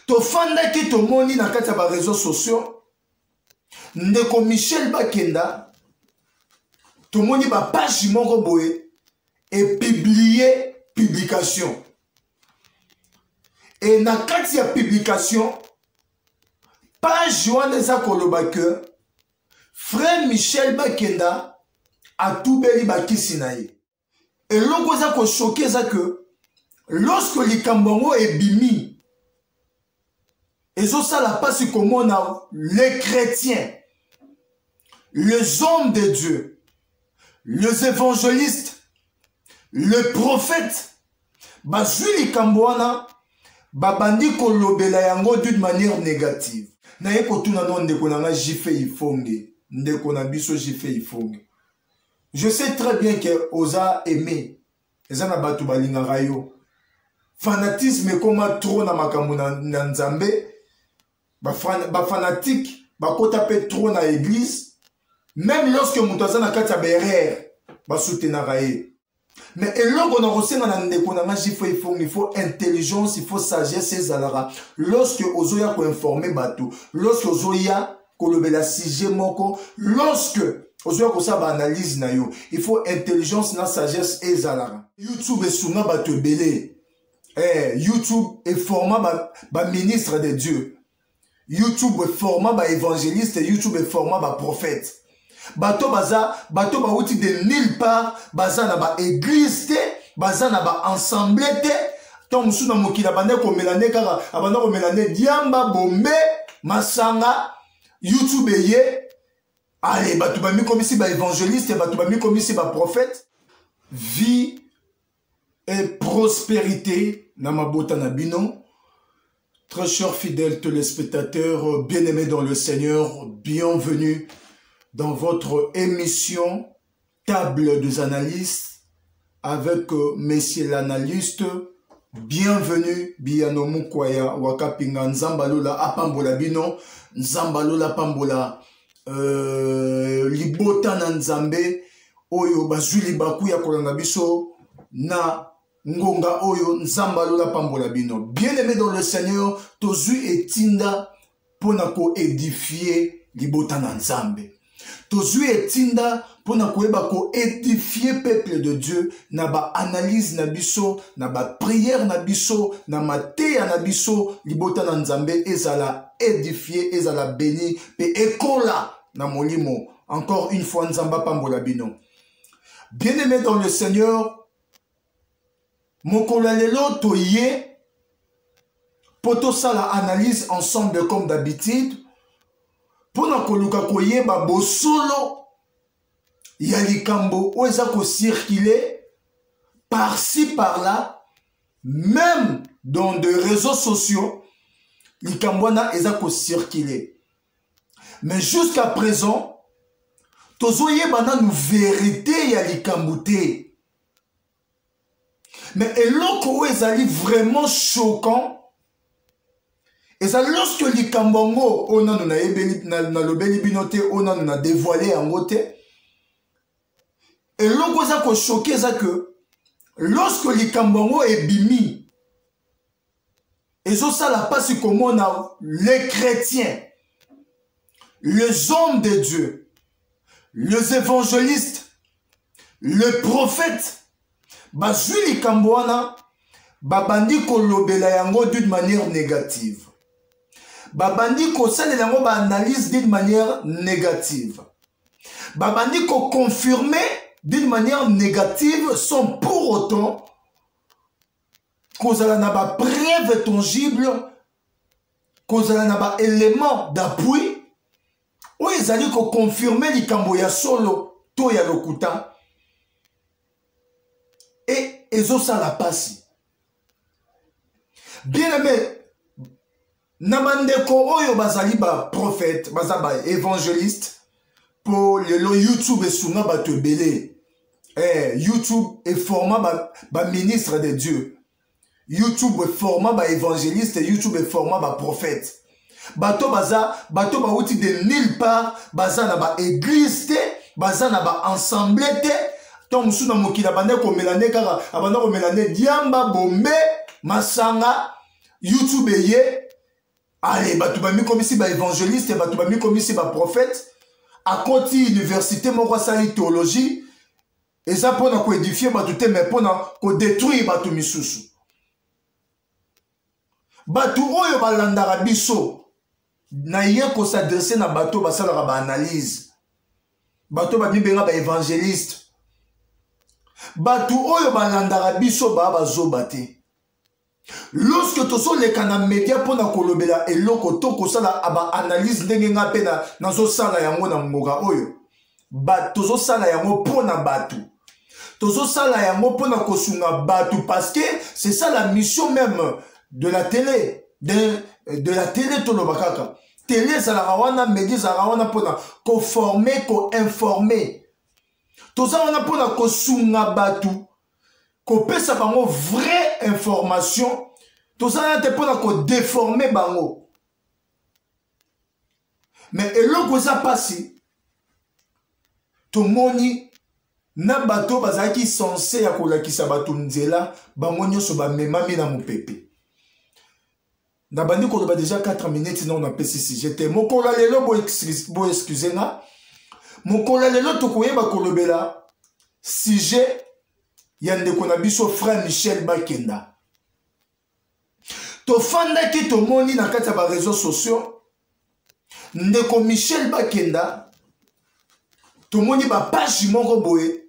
tofandaki tomoni na kati ya bareseau sociaux ndeko michel bakenda tomoni bapage moko boye epiblie publication e na kati ya publication page wana eza koloba ke frère michel bakenda atubeli bakisi na ye eloko eza kosoki eza ke lorsque likambo yango ebimi ezosala mpasi komona les chrétiens les hommes de dieu les évangélistes le prophète bazwi likambo wana babandi kolobela yango d'une manière négative naye kotuna no ndeko na ngai jife ifonge ndeko na biso jife ifonge je sais très bien que oza aimé eza na bato balingaka yo fanatisme ekoma trop na makambo na, na nzambe bafanatike ba bakota mpe trop na église meme lorsque moto aza na kati ya berere basutenaka ye mais eloko na kosenga na ndeko na nga jifo ifongi il faut intelligence il faut sagesse ezalaka lorsque ozoya koinforme bato lorsque ozoya kolobela sujet moko lorsque ozoya kosala baanalyse na yo il faut intelligence na sagesse ezalaka youtube esunga bato ebele eh, youtube eforma baministre ba de dieu youtube eforma baevangeliste youtube eforma baprofete bato baza bato bauti de nulle part baza na baeglise te baza na baensemble te ntango mosusu na mokili abanda komela nde kaka abanda komela nde diamba bombe masanga youtube eye ale bato bamikomisi baevangeliste bato bamikomisi baprofete vie et prospérité na mabota na bino très chers fidèles téléspectateurs bien-aimés dans le Seigneur bienvenue dans votre émission table des analystes avec euh, monsieur l'analyste bienvenue biyano mukwaya wakapinga nzambalola apambola bino nzambalola apambola euh, libota na nzambe oyo bazwi libaku ya kolanda biso na ngonga oyo nzambe alola apambola bino bien aimé dans le seigneur tozwi etinda mpo na koedifie libota na nzambe tozwi etinda mpo na koyeba koedifie peuple de dieu na baanalyse na biso na bapriere na biso na mateya na biso libota na nzambe ezala edifie ezala beni mpe ekola na molimo encore une fois nzambe apambola bino bien aimé dans le seigneur mokolo ya lelo toye mpo tosala analyse ensemble comme d'habitude mpo na koluka koyeba bosolo ya likambo oyo eza kocircule par-ci par-là même dans de réseaux sociaux likambo wana eza kocircule mais jusqu'à présent tozoyeba nanu verité ya likambo te mais eloko oyo ezali vraiment choquant eza lorsque likambo yango oyo nano nalobeli bino te oyo nano na devoile yango te eloko eza koshoke eza ke lorsque likambo yango ebimi ezosala mpasi komona les chrétiens les hommes de dieu les évangélistes le prophète bazwi likambo wana babandi kolobela yango d'une manière négative babandi kosalela yango baanalyse d'une manière négative babandi koconfirme d'une manière négative sans pour autant kozala na ba preuve tangible kozala na ba élément d'appui oyo ezali koconfirme likambo ya solo to ya lokuta e ezosala mpasi bien aime na bandeko oyo bazali baprofete baza baevangeliste mpo lelo youtube esunga bato ebele eh, youtube eforma baministre ba de dieu youtube eforma baevangeliste youtube eforma baprofete bato baza bato bauti de nulle part baza na baeglise te baza na baensemble te to mosusu na mokili abandaki komela nde kaka abandaki komela nde diamba bombe masanga youtube eye aye bato bamikomisi baevangeliste bato bamikomisi baprofete akoti université moko asali théologie eza mpo na koedifie bato te mai mpo na kodetruire bato misusu bato oyo balandaka biso naye kosadresse na bato basalaka baanalyse bato bamibenga baevangeliste bato oyo balandaka biso baa bazoba te lorsque tozoleka na media mpo na kolobela eloko to kosala baanalyse ndenge ngai mpe nazosala yango na mboka oyo tozosala yango mpo na bato tozosala yango mpo na kosunga bato parce que c'est ça la mission même de la télé de, de la télé toloba kaka télé ezalaka wana media ezalaka wana mpo na koforme koinforme toza wana mpo na kosunga bato kopesa bango vraie information tozalana te mpona kodeforme bango me eloko eza mpasi tomoni na bato oyo bazalaki sense ya kolakisa bato nzela bango nyonso bamemami na mopepe nabandi koloba deja 4 minutes nao napesi sujet te mokolo ya lelo boexcuse nga mokolo ya lelo tokoyeba kolobela sujet ya ndeko na biso frère michel bakenda tofandaki tomoni na kati ya bareseau sociaux ndeko michel bakenda tomoni bapage moko boye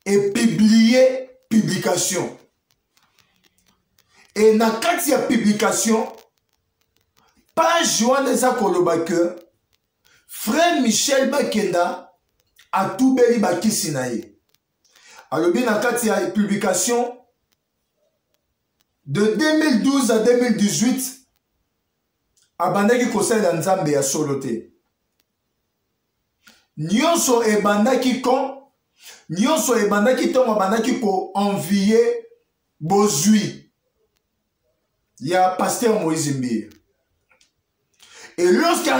epiblie publication e na kati ya publication page wana eza koloba ke frère michel bakenda atubeli bakisi na ye alobi na kati ya publication de 2012 à 2018 abandaki kosalela nzambe ya solo te nyonso ebandaki quand nyonso ebandaki ntango abandaki koenvie bozwi ya paster moïse mbiye et lorsque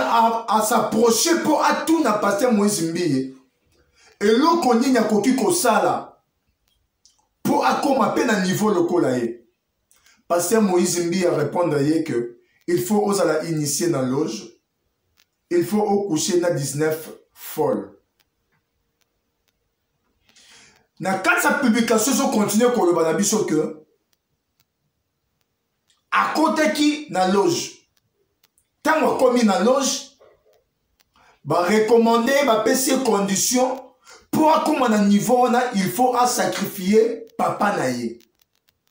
asapproche mpo atuna paster moïse mbiye eloko nini akoki kosala mpo akóma mpe na niveau lokola ye paster moïse mbiye arépondre ye que il faut ozala initie na loge il faut au coucher na 19 folle na kati ya publication ezo continue koloba na biso ke akotaki na loge ntango akomi na loge barekomande ye bapesi ye condition mpo akóma na niveau wana il faut asakrifie papa na ye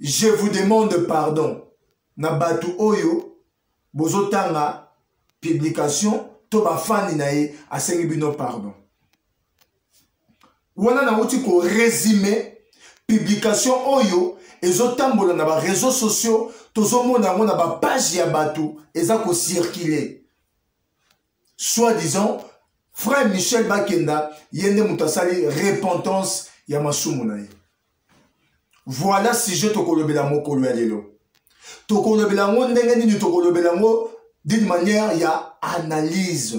je vous demande pardon na bato oyo bozotanga publication to bafani na ye asengi bino pardon wana nauti koresume publication oyo ezotambola na bareseau sociaux tozomona yango na bapage ya bato eza kocirkule soit disant frère michel bakenda ye nde moto asali repentance ya masumu na ye voilà sujet tokolobela mokolo ya lelo tokolobela yango ndenge nini tokolobela yango d'une manière ya analyse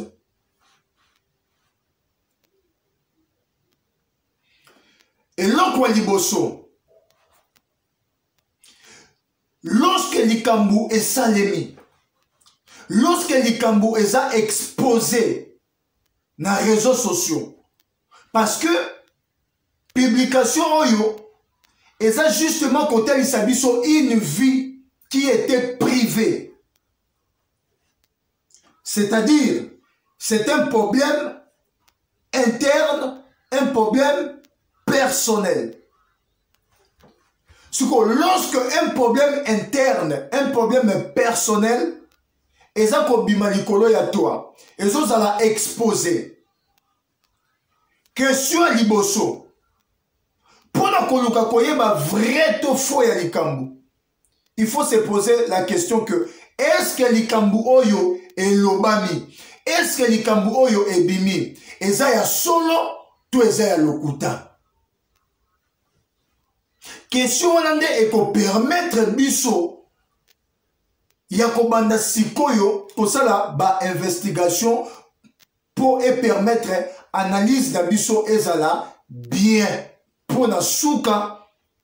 eloko ya liboso lorsque likambo esalemi lorsque likambo eza expose na réseaux sociaux parce que publication oyo eza justement kotalisa biso une vie qui était privée C'est-à-dire, c'est un problème interne, un problème personnel. Lorsque un problème interne, un problème personnel, eza kobima likolo ya toi ezozala expose question ya liboso mpo na koluka koyeba vrai to faux ya likambo il faut se poser la question que est ce que likambo oyo elobami est ce que likambo oyo ebimi eza ya solo to eza ya lokuta question wana nde ekopermettre biso ya kobanda sikoyo kosala bainvestigation mpo epermettre analyse na biso ezala bien mpo na suka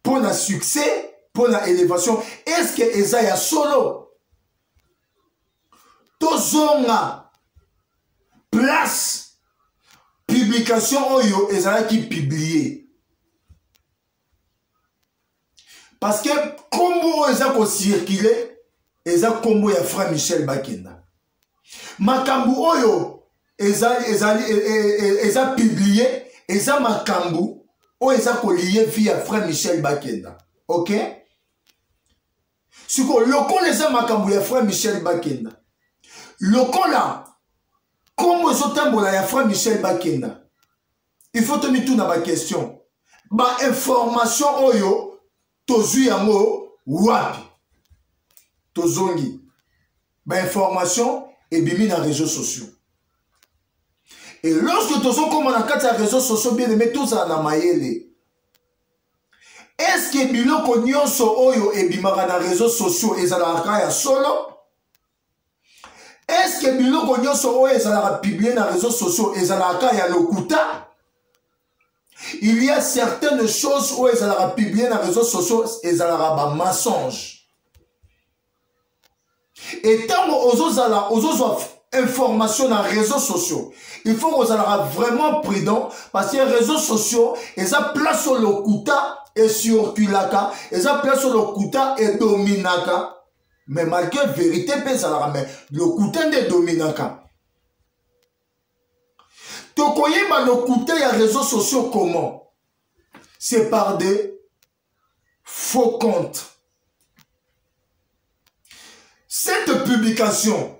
mpo na succès mpo na élévation estce eza ya solo tozonga place publication oyo ezalaki publie parce que nkombo oyo eza kocircule eza nkombo ya fra michel bakenda makambo oyo ezali ezali e, e, e, eza publie eza makambo oyo eza kolie vie ya frère michel bakenda ok sikoyo lokola eza makambo ya frère michel bakenda lokola nkombo ezotambola ya frère michel bakenda il faut tomituna baquestion bainformation oyo tozwi yango wapi tozongi bainformation ebimi na réseau sociaux e lorsque tozokoma na kati ya réseau sociaux bien aimé tozala na mayele estce biloko nyonso oyo ebimaka na réseau sociaux ezalaka ya solo eske biloko nyonso oyo ezalaka publie na réseau sociaux ezalaka kaka ya lokuta il y a certaines choses oyo ezalaka publie na réseau sociaux ezalaka bamensonge etango ozozala ozozwa information na réseau sociaux il faut kozalaka vraiment prudent parce que réseau sociaux eza place oyo lokuta ecirculaka eza place oyo lokuta edominaka mais malgré vérité mpe ezalaka mais lokuta nde edominaka tokoyeba lokuta ya réseau sociaux comment c'est par des faux comptes cette publication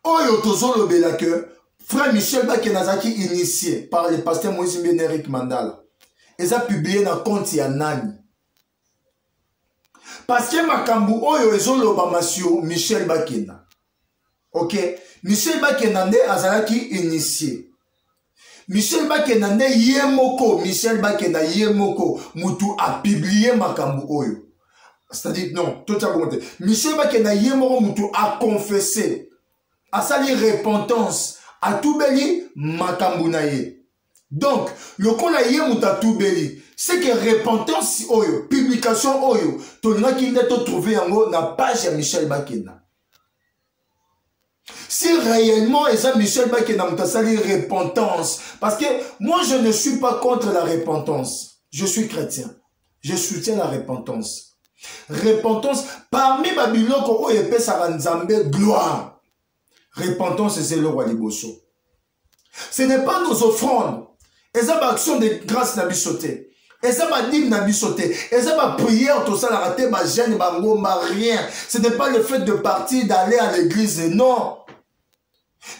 oyo tozolobela que frère michel bake nazalaki initie par le pasteur moïse mbene eric mandala eza publie na compte ya nani parce que makambo oyo ezolobama sur michel bakenda ok michel bakenda nde azalaki initie michel bakenda nde ye moko michel bakenda ye moko motu apiblie makambo oyo c'est-à-dire non totya bongo te michel bakenda ye moko motu aconfesse asali repentance atubeli makambo na ye donc lokola ye moto atubeli seke repentance oyo publication oyo tolingaki nde totrouve yango na page ya michel bakenda si réellement eza michel bakenda moto asali repentance parce que moi je ne suis pas contre la repentance je suis chrétien je soutiens la repentance repentance parmi babiloko oyo epesaka nzambe gloire repentance eza eloko ya liboso ce n'est pas nos offrandes eza baaction de grâce na biso te eza badime na biso te eza baprière tosalaka te bagene bangomba rien ce n'est pas le fait de partir d'aller à l'église non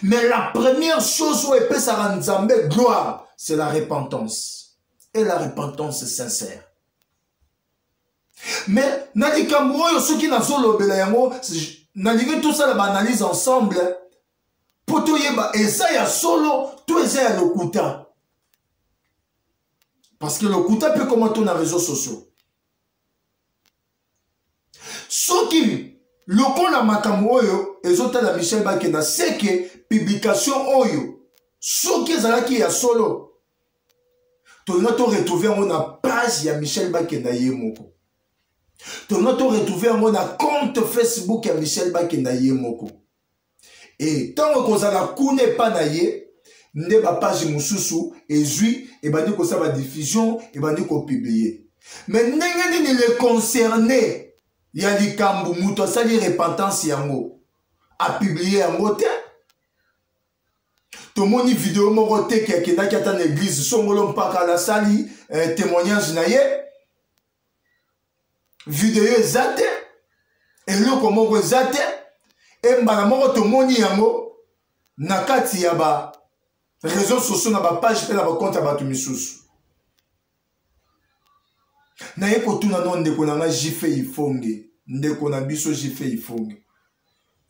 mais la première chose oyo epesaka nzambe gloire c'est la repentance et la repentance sincère mais na likambo oyo soki nazolobela yango nalingi tosala baanalyse ensemble mpo toyeba eza ya solo to eza ya lokuta parce que lokuta mpe koma to na réseau sociaux soki lokola makambo oyo ezotala michel bakenda seke publication oyo soki ezalaki ya solo tolinga toretrouve yango na page ya michel bakenda ye moko tolinga toretrouve yango na compte facebook ya michel bakenda ye moko e ntango ekozala kuna epa na ye nde bapage mosusu ezwi ebandi kosala badiffusion ebandi kopiblie me ndenge nini le concerne ya likambo moto asali repentance yango apiblie yango te tomoni video moko te ke akendaki ata na eglize songolo mpaka alasali eh, témoignage na ye video eza te eloko moko eza te e mbala moko tomoni yango na kati ya ba réseau sociaux na bapage mpe na bakonte ya bato misusu naye kotuna no ndeko na ngai jife ifonge ndeko na biso jife ifonge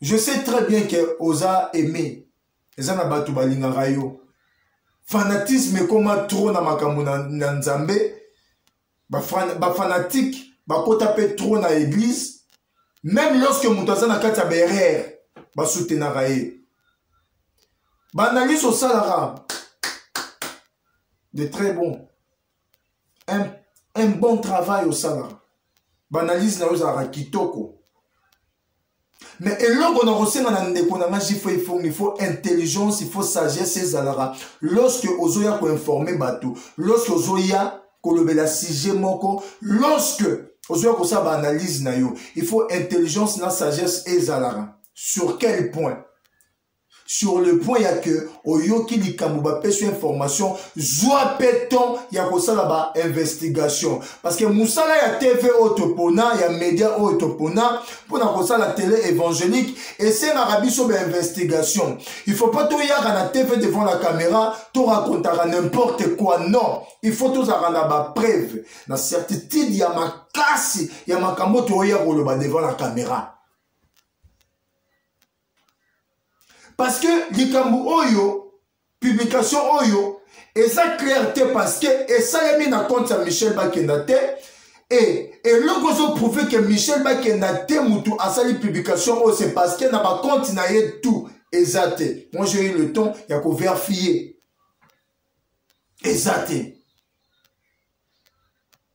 je sais très bien que oza aimé eza na bato balingaka yo fanatisme ekoma trop na makambo na, na nzambe bafanatike bakota mpe trop na église meme lorsque moto aza na kati ya berere basutenaka ye baanalyse osalaka de très bon un, un bon travail osalaka baanalyse na yo ezalaka kitoko mais eloko na kosenga na ndeko na nga jifo ifongi il faut intelligence il faut sagesse ezalaka lorsque ozoya koinforme bato lorsque ozoya kolobela sujet moko lorsque ozoya kosala baanalyse na yo il faut intelligence na sagesse ezalaka sur quel point sur le point ya que oyoki likambo bapesi yo information zwa mpe temps ya kosala ba investigation parce que mosala ya tv oyo topona ya media oyo topona mpo na kosala tele évangélique esengaka biso ba investigation il faut pas toyaka na tv devant la caméra torakontaka n'importe quoi non il faut tozalaka na bapreuve na certitude ya makasi ya makambo toya koloba devant la caméra parce que likambo oyo publication oyo eza claire te parce que esalemi na compte ya michel bakenda te e eloko ozoprouve ke michel bakenda te motu asali publication oyo c'est parce que na bacompte na ye tout eza te moi j'ai eu le temps ya koverifie eza te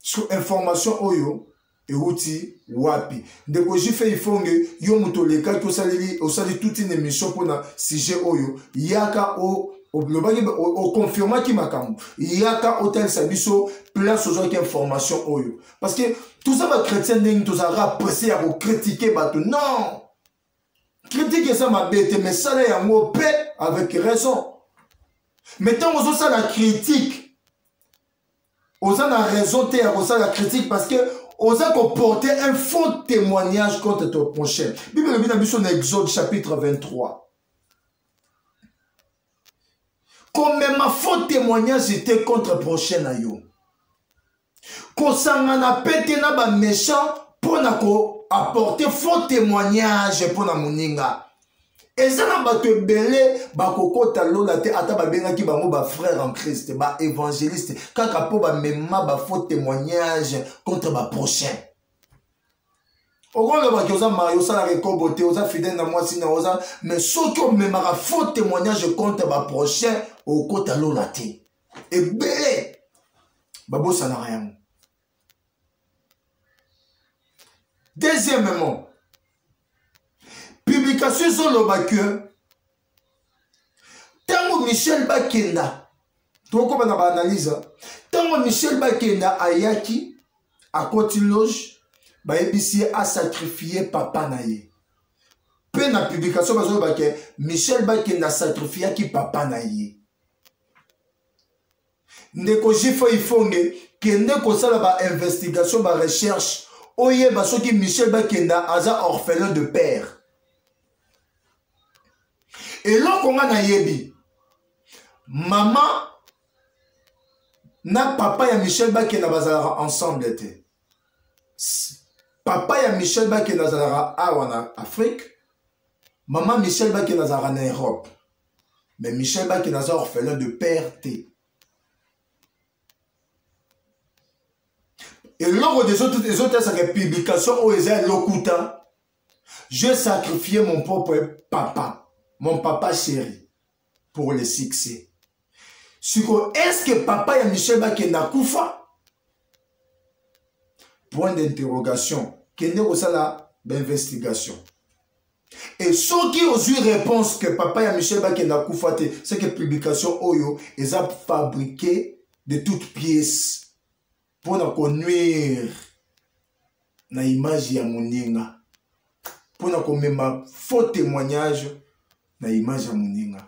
so information oyo euti wapi ndeko jife ifonge yo moto olekaki osaleli osali toute une émission mpona sujet oyo yaka o olobaki oconfirmaki makambo yaka otalisa biso place ozwaki information oyo parce que toza bachrétien ndenge tozalaka presse ya kokritike bato non kritike eza mabe te mais sala yango mpe avec raison mais ntango ozosala kritike oza na raison te ya kosala critique parce que oza koporte un faux témoignage contre ton prochain bible elobi na biso na exode chapitre 23 komema faux témoignage te contre prochain na yo kosangana mpe te na baméchant mpo na koapporte faux témoignage mpo na moninga eza na bato ebele bakokota lola te ata babengaki bango bafrère en christ baévangéliste kaka mpo bamema bafaux témoignage contre baprochain okolobaki oza mari osalaka ekobo te oza fidèle na mwasi na oza mais soki omemaka faux témoignage contre baprochain okota lola te ebele babosanaka yango deuxièmement publication ezoloba ke ntango michel bakenda tokokoma na baanalyse ntango michel bakenda ayaki akoti loge bayebisi ye asakrifie papa na ye mpe na publikatio bazoloba ke michel bakenda asakrifiyaki papa na ye ndeko jifa ifonge kende kosala bainvestigation barecherche oyeba soki michel bakenda aza orphelin de père eloko nga nayebi mama na papa ya michel bakenda bazalaka ensemble te papa ya michel bakenda azalaka awa na afrique mama michel bakenda azalaka na europe mais michel bake naza orphelin de père te eloko ezotasaka publication oyo eza ya lokuta je sacrifie mon propre papa mon papa chéri pour le succès sikoyo eske papa ya michel bakende akufa point d'interrogation kende kosala bainvestigation et soki ozwi réponse que papa ya michel bakende akufa te c'est que publication oyo eza fabriqué de toute pièce mpo na konuire na image ya moninga mpo na komema faux témoignage na image ya moninga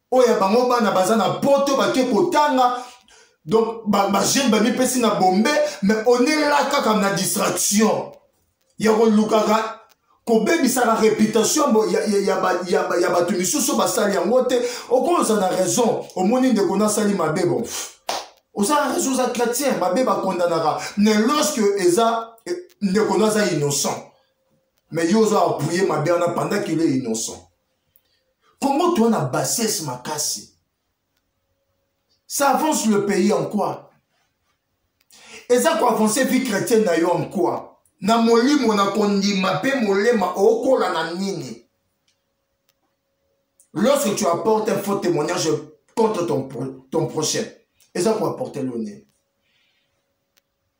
oyo ya bango bana baza na poto bake kotanga donc bajeune ba bamipesi na bombe mais onela kaka na distraction ya kolukaka kobebisaka réputation ya bato misusu basali yango te okoza na raison omoni ndeko nasali mabe bon oza na raison oza chrétien mabe bakondanaka mais lorsque eza eh, ndeko no aza innocent mais yo oza appuye mabe wana pendant qu'il est innocent Congo toi na bassesse makasi. Ça avance le pays en quoi Eza ko avancer vie chrétienne na yo en quoi Na molimo na kondima pe molema okola na nini Lorsque tu apportes un faux témoignage contre ton, ton prochain, et ça pour apporter le nez.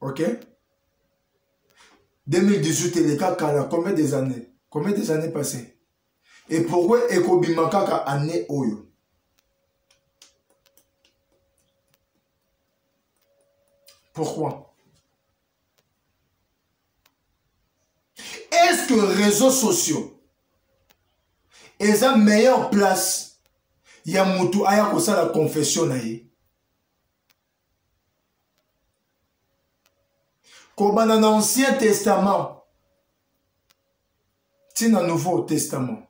ok 2018 eleka kala combien des années combien des années passées et pourquoi ekobima kaka année oyo pourquoi est-ce que réseaux sociaux eza meilleure place ya motu aya kosala confession na ye kobanda na ancien testament ti na nouveau testament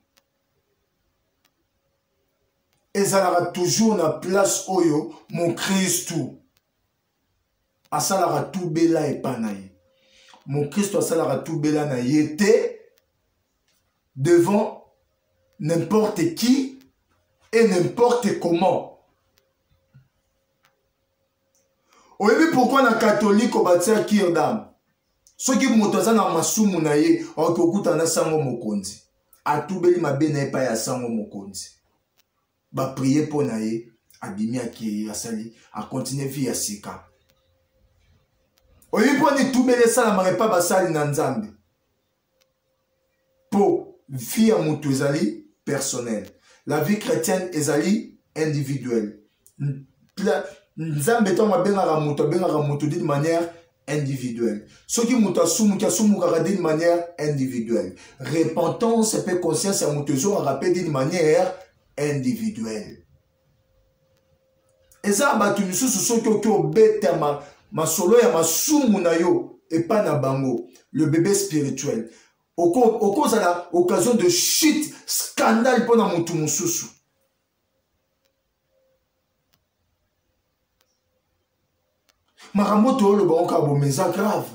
ezalaka toujours na place oyo mokristu asalaka tubela epai na ye mokristu asalaka tubela na ye te devant n'importe qui et n'importe comment oyebi pourkui na katoliko batia kirdam soki moto aza na masumu na ye aoki kokutana na sango mokonzi atubeli mabe na ye epai ya sango mokonzi baprie mpo na ye abimi akei asali akontinue vie ya sika oyebi mpo nitubeli esalamaka epai basali na nzambe po vie ya moto ezali personnel la vie chrétienne ezali individuelle nzambe ntango abengaka moto abengaka moto d'une manière individuelle soki moto asumuki asumukaka d'une manière individuelle repentance mpe conscience ya moto ezongaka mpe d'une manière individuelle eza bato misusu soki oki obetama masolo ya masumu na yo epai na bango le bebe spirituel okozala occasion de chute scandale mpo na motu mosusu makambo toyoloba oyo kaka bomeza grave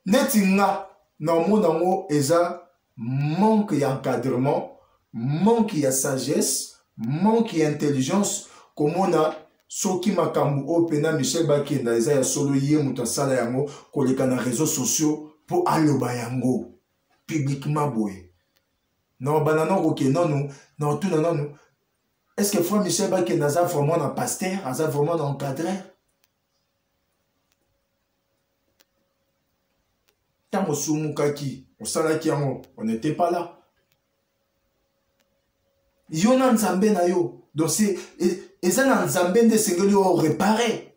neti nga naomona yango eza manque ya encadrement manque ya sagesse manque ya intelligence komona soki makambo oyo mpena michel bakenda eza ya solo ye moto asala yango koleka na réseau sociaux mpo aloba yango publiquement boye na obanda na kokende nanu na otuna nanu est ce que frère michel bakenda aza vraiment na pasteur aza vraiment na encadreur ntango osumukaki osalaki yango on n'était pas là yo na nzambe na yo donc e, eza na nzambe nde esengeli orepare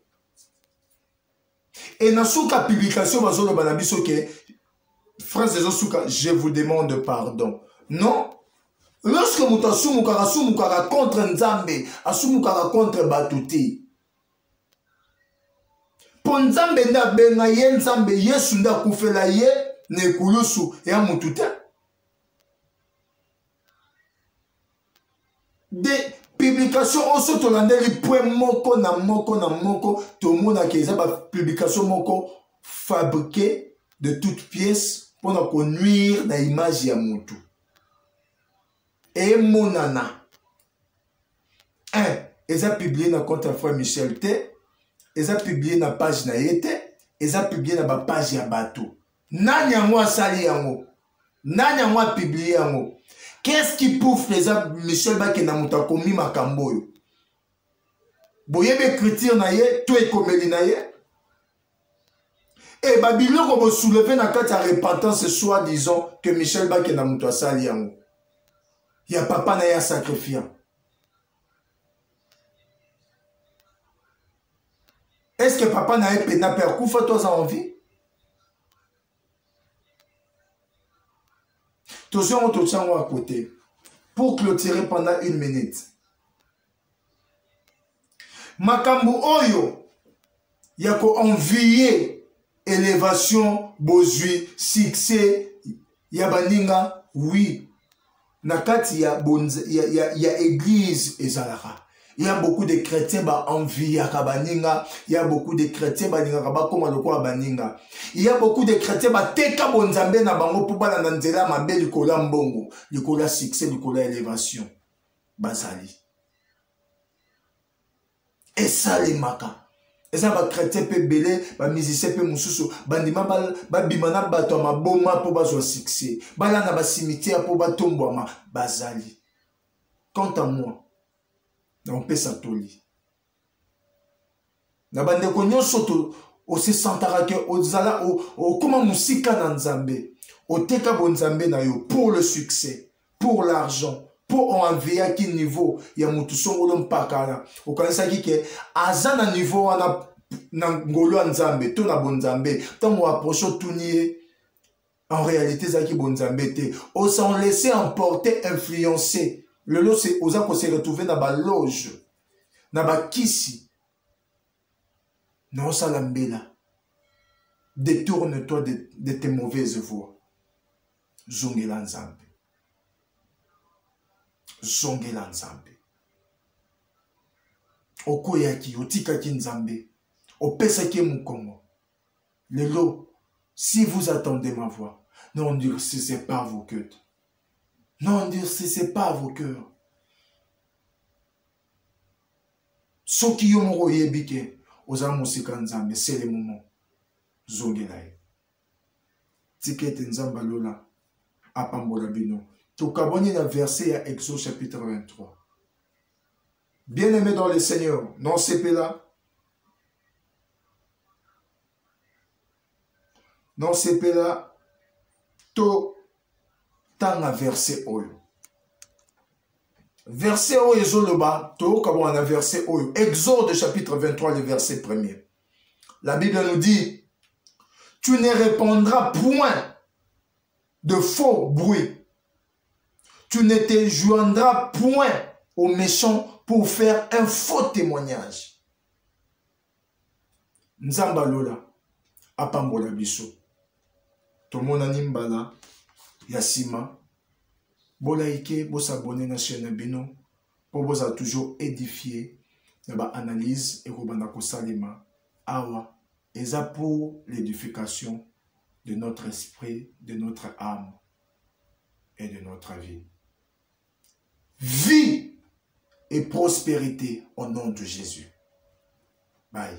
et na suka publication bazoloba na biso ke phrase ezosuka je vous demande pardon non lorsque moto asumukaka asumukaka contre nzambe asumukaka contre bato te mpo nzambe nde abenga ye nzambe yesu nde akufela ye na ekulusu ya motu te de publication oyo so tolandeli pwe moko na moko na moko tomonaka eza bapublication moko fabriqué de toute pièce mpo na konuire na image ya motu emonana un eza publie na compte ya frère michel te eza publie na page na ye te eza publie na bapage ya bato nani yango asali yango nani yango apiblie yango qu'est-ce qui prouve que eza michel bakenda moto akomi makambo oyo boyebi écriture na ye to ekomeli na ye e babiloko bosouleve na kati ya repentance soit disant que michel bakenda moto asali yango ya papa na ye asacrifiant est ce que papa na ye mpena mpe akufa to aza en vie tozwi yango totya yango ya kote pour clôturer pendant une minute makambo oyo ya ko envier elevation bozwi succès ya baninga oui na kati ya, ya, ya, ya église ezalaka il y a beaucoup de chrétiens ba enviaka baninga il y a beaucoup de chrétiens balingaka bakoma lokola baninga il y a beaucoup de chrétiens bateka bonzambe na bango mpo balanda nzela ya mabe likolo ya mbongo likolo ya succès likolo ya élévation bazali esalemaka eza bachrétien mpe ebele bamusicien mpe mosusu bandima babima na bato ya maboma mpo bazwa succès balanda basimitiere mpo batombwama bazali quant à moi naopesa toli na bandeko nyonso osesantaka ke ozala okóma mosika na nzambe oteka bonzambe na yo pour le succès pour l'argent mpo oanveyaki niveau ya motu songolo mpakala okanisaki ke aza na niveau wana na ngolu ya nzambe to na bonzambe ntango aproche otuni ye en réalité ezalaki bonzambe te osan laisse emporter influencer lelo oza kose retrouve na baloge na bakisi na osala mbela détourne toi de, de tes mauvaises voix zongela nzambe zongela nzambe okweyaki otikaki nzambe opesaki ye mokongo lelo si vous attendez ma voix n'endurcissez pas vos cœurs n'endurcissez pas vos cœurs soki yo moko oyebi ke oza mosika nzambe sele momo zongela ye tika ete nzambe alola apambola bino tokabwani na verse ya exode chapitre 23 bien aimé dans le seigneur na osepela na osepela totanga verse oyo verse oyo ezoloba toyoka bwana na verse oyo exode chapitre 23 le verse premier La Bible nous dit, tu ne répondras point de faux bruits. Tu ne te joindras point aux méchants pour faire un faux témoignage. nzambe lola apambola biso tomonani mbala ya nsima bolaike bosabone na chaine na bino mpo bozala toujours édifie na baanalyse ekobanda kosalema awa eza pour l'édification de notre esprit de notre âme et de notre vie vie et prospérité au nom de jésus bye